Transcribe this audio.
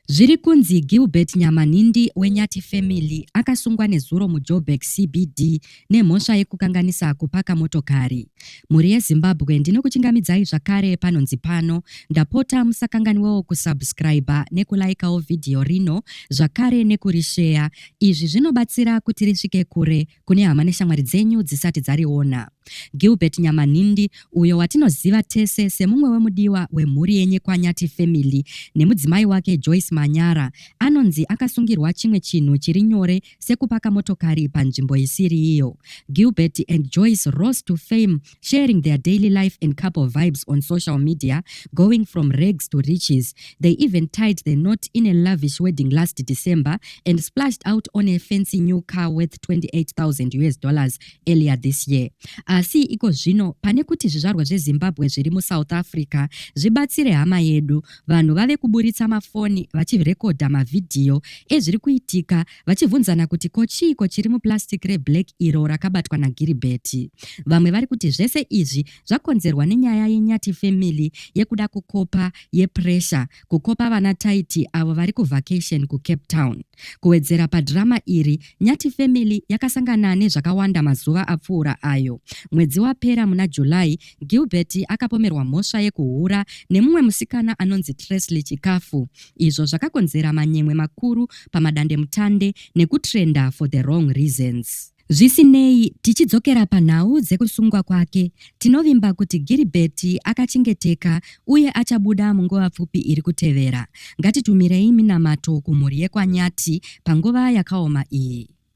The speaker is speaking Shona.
Zviri kunzi Gilbert Nyamanhindi weNyati Family akasungwa nezuro muJoburg CBD nemhosva yekukanganisa kupaka motokari. Mhuri yeZimbabwe ndinokuchingamidzai zvakare panonzi pano. Ndapota musakanganiwewo kusubscriber nekulaikawo vhidhiyo rino zvakare nekurisheya. Izvi zvinobatsira kuti risvike kure kune hama neshamwari dzenyu dzisati dzariona. Gilbert Nyamanhindi, uyo watinoziva tese semumwe wemudiwa wemhuri yeNyekwanyati Family nemudzimai wake Joyce Manyara, anonzi akasungirwa chimwe chinhu chiri nyore sekupaka motokari panzvimbo isiri iyo. Gilbert and Joyce rose to fame sharing their daily life and couple vibes on social media, going from rags to riches. They even tied the knot in a lavish wedding last December and splashed out on a fancy new car worth 28,000 US dollars earlier this year. Asi iko zvino pane kuti zvizvarwa zveZimbabwe zviri muSouth Africa zvibatsire hama yedu, vanhu vave kuburitsa mafoni vachirekodha mavhidhiyo ezviri kuitika vachibvunzana kuti ko chiiko chiri muplastic reblack iro rakabatwa naGiribheti. Vamwe vari kuti zvese izvi zvakonzerwa nenyaya yeNyati family yekuda kukopa yepressure kukopa vana Taiti avo vari kuvacation kuCape Town. Kuwedzera padhirama iri, Nyati family yakasangana nezvakawanda mazuva apfuura ayo. Mwedzi wapera muna July, Gilbert akapomerwa mhosva yekuhura nemumwe musikana anonzi Tresley Chikafu izvo zvakakonzera manyemwe makuru pamadandemutande nekutrenda for the wrong reasons. Zvisinei, tichidzokera panhau dzekusungwa kwake, tinovimba kuti Gilbert akachengeteka uye achabuda munguva pfupi iri kutevera. Ngatitumirei minamato kumhuri yekwaNyati panguva yakaoma iyi.